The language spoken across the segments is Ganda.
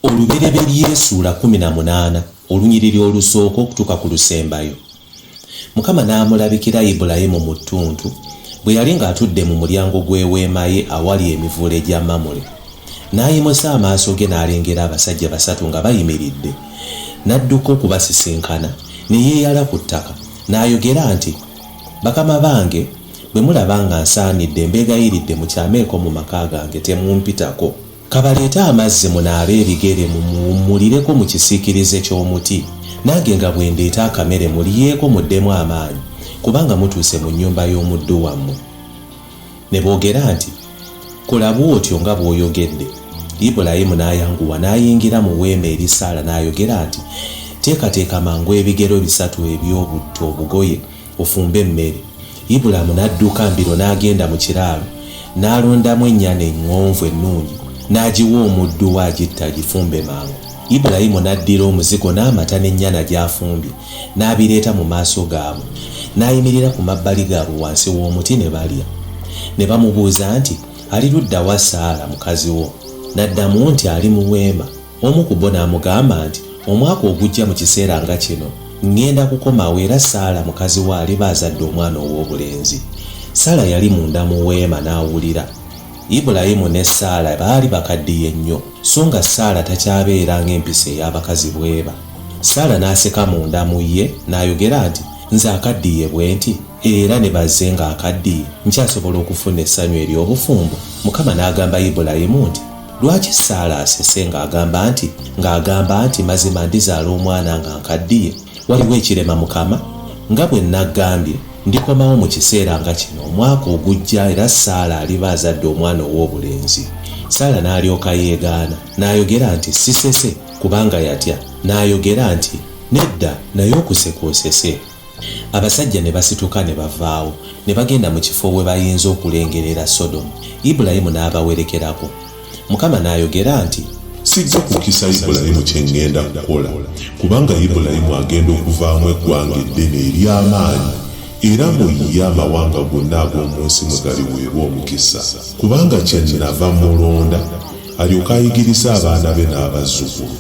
olubereberye esuula kumi na munaana olunyiriri olusooka okutuuka ku lusembayo mukama n'amulabikira ibulayimu mu ttuntu bwe yali ng'atudde mu mulyango gw'eweema ye awali emivule gya mamule n'ayimusa amaaso ge n'alengera abasajja basatu nga bayimiridde n'adduka okubasisinkana ne yeeyala ku ttaka n'ayogera nti Bakama bange, bwe mulaba nga nsaanidde, mbeegayiridde mukyameeko mu maka gange, temumpitako. Ka baleete amazzi munaabe ebigere, mumuwummulireko mu kisiikirize ky'omuti, nange nga bwe ndeeta akamere mulyeko muddemu amaanyi, kubanga mutuuse mu nnyumba y'omuddu wammwe. Ne boogera nti, Kola bw'otyo nga bw'oyogedde. Ibulayimu n'ayanguwa n'ayingira mu weema eri Saala n'ayogera nti, Teekateeka mangu ebigero bisatu eby'obutto obugoye, ofumbe emmere. Ibulaamu n'adduka mbiro n'agenda mu kiraalo, n'alondamu ennyana eŋŋonvu ennungi, n'agiwa omuddu we agitte agifumbe mangu. Ibulayimu n'addira omuzigo n'amata n'ennyana gy'afumbye, n'abireeta mu maaso gaabwe, n'ayimirira ku mabbali gaabwe wansi w'omuti ne balya. Ne bamubuuza nti, Ali ludda wa Saala mukazi wo? N'addamu nti, Ali mu weema. Omu ku bo n'amugamba nti, Omwaka ogujja mu kiseera nga kino, ŋŋenda kukomawo era Saala mukazi wo aliba azadde omwana ow'obulenzi. Saala yali munda mu weema n'awulira. Ibulayimu ne Saala baali bakaddiye nnyo, so nga Saala takyabeera ng'empisa ey'abakazi bw'eba. Saala n'aseka munda mu ye n'ayogera nti, Nze akaddiye bwenti, era ne baze nga akaddiye, nkyasobola okufuna essanyu ery'obufumbo? Mukama n'agamba Ibulayimu nti, Lwaki Saala asese ng'agamba nti, ng'agamba nti, Mazima ndizaala omwana nga nkaddiye? Waliwo ekirema Mukama? Nga bwe nnaggambye, ndikomawo mu kiseera nga kino omwaka ogujja era Saala aliba azadde omwana ow'obulenzi. Saala n'alyoka yeegaana, n'ayogera nti, Sisese. kubanga yatya n'ayogera nti, Nedda, naye okuseka osese. Abasajja ne basituka ne bavaawo, ne bagenda mu kifo we bayinza okulengerera Sodomu, Ibulayimu n'abawerekerako. Mukama n'ayogera nti. Sijja kukisa Ibulayimu kye ŋŋenda kukola, kubanga Ibulayimu agenda okuvaamu eggwanga eddene ery'amaanyi, era mu ye amawanga gonna ag'omu nsi mwe galiweebwa omukisa, kubanga kye nnava mmulonda. alyoke ayigirize abaana be n'abazzukulu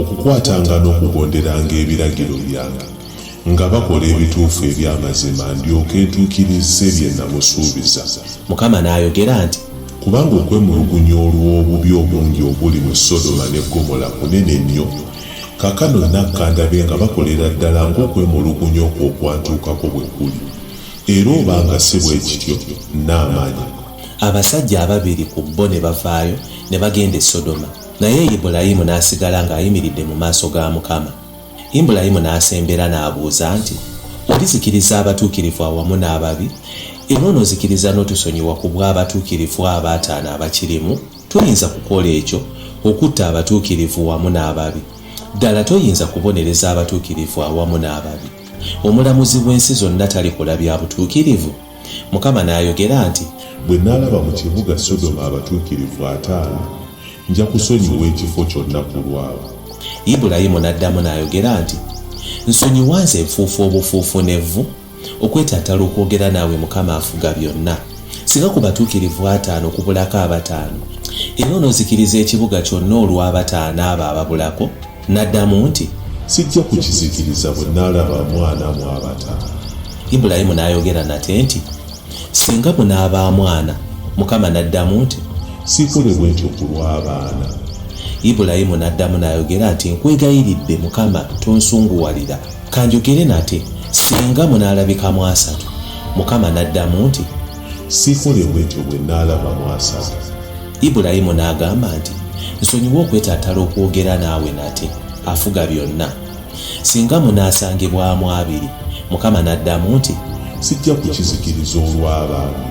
okukwatanga n'okugonderanga ebiragiro byange nga bakola ebituufu eby'amazima ndyoke ntuukirizze bye namusuubiza Mukama n'ayogera nti. kubanga okwemulugunya olw'obubi obungi obuli mu sodoma ne gomola kunene nnyo kaakano nakka ndabe nga bakolera ddala ng'okwemulugunya okwo okwantuukako bwe kuli era oba nga si bwe kityo nnaamanya abasajja ababiri ku bo ne bavaayo ne bagenda e Sodoma, naye Ibulayimu n'asigala ng'ayimiridde mu maaso ga Mukama. Ibulayimu n'asembera n'abuuza nti, Olizikiriza abatuukirivu awamu n'ababi, era onozikiriza n'otusonyiwa ku bw'abatuukirivu abo ataano abakirimu? Toyinza kukola ekyo, okutta abatuukirivu wamu n'ababi. Ddala toyinza kubonereza abatuukirivu awamu n'ababi? Omulamuzi w'ensi zonna talikola bya butuukirivu? Mukama n'ayogera nti. Bwe nnaalaba mu kibuga Sodoma abatuukirivu ataano, nja kusonyiwa ekifo kyonna ku lwabwe. Ibulayimu n'addamu n'ayogera nti, Nsonyiwa nze nfuufu obufuufu n'evvu, okwetattala okwogera naawe Mukama Afuga Byonna, singa ku batuukirivu ataano kubulako abataano, era onozikiriza ekibuga kyonna olw'abataano abo ababulako? N'addamu nti. Sijja kukizikiriza bwe nnaalaba mwana mu abataano. Ibulayimu n'ayogera nate nti, Singa munaaba amwana. Mukama n'addamu nti. Siikole bwe ntyo ku lw'abaana. Ibulayimu n'addamu n'ayogera nti, Nkwegayiridde, Mukama, tonsunguwalira. Ka njogere nate, Singa munaalabika mu asatu. Mukama n'addamu nti. Siikole bwe ntyo bwe nnaalaba mu asatu. Ibulayimu n'agamba nti, Nsonyiwa okwetaatala okwogera naawe nate, Afuga byonna. Singa munaasangibwamu abiri, Mukama n'addamu nti, Sijja kukizikiriza olw'abange.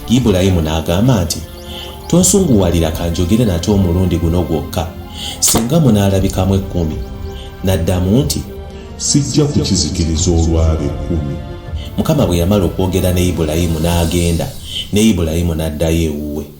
Ibulayimu n'agamba nti, Tonsunguwalira ka njogere nate omulundi guno gwokka. Singa munaalabikamu ekkumi, N'addamu nti, Sijja kukizikiriza olw'abo ekkumi. Mukama bwe yamala okwogera ne Ibulayimu n'agenda, ne Ibulayimu n'addayo ewuwe.